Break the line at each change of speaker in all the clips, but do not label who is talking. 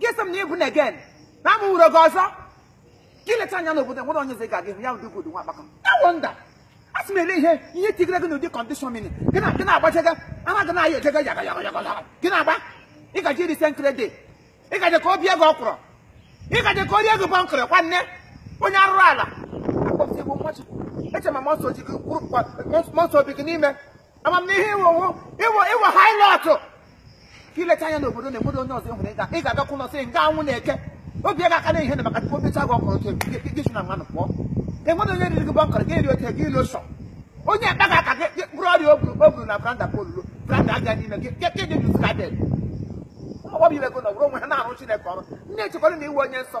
gị sị m na ịbụ na again na amụ nwere gị ọzọ gị leta anya n'obodo nwere onye eze ga gị hụ ya ụdị obodo nwa akpaka I wonder a sị m ele ihe ihe tigere gị n'ụdị condition mini gị na gị na-agbajega ana gị na-aya ejega yaga yaga yaga yaga gị na-agba ị gaji iri senkere dị ị gaje ka o bie gị ọkwụrụ ị gaje ka o rie gị bọnkọrọ nwanne onye arụrụ ala akpọsị bụ mmachukwu eche ma mmụọ nsọ ji gị kwuru mmụọ nsọ bi gị n'ime amamihe ị wụ wụ ị wụ ị wụ harlot ka i leta anya n'obodo na obodo onye ọzọ hụrụ ịga ị ga-agakwa ụlọ sị nga anwụ na-eke obi ya ga-aka na ihe na maka tupu o becha gị ọkwụrụ otu gị si na mmanụ pụọ enwere onye riri gị bọnkọrọ gị eri ote gị ilu sọ onye akpa gị aka gị bụrụ ọrịa o buru o buru na branda polulu branda abịa n'ime gị gị dị jụzụ ka dị ọgbọbụ ibe gị nọ wụrụ onwe ha na-arụ chineke ọrụ ndị echekwara na iwe onye nsọ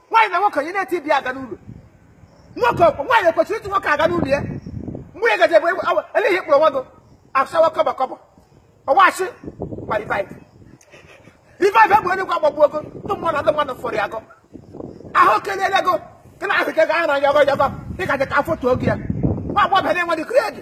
nwaanyị na nwoke onye na-eti ibi aga n'ụlọ nwoke ọ kwa nwaanyị ekwesịrị ịchụ nwoke aga n'ụlọ ya mgbe ị gaje bụ eleghị kpụrụ nwa gị asawa kọbọ kọbọ ọwachi ma revive revive bụ onye gwa agbagbu ego ndị mmadụ ndị mmadụ fọrọ ya agụ ahụ kelele ego gị na ahụ ke ga-ahụ na ya ọgọ ya ọgọ ị gaje ka afọ tuo gị ya nwa agbọghọ bịa na-enwe dị kredi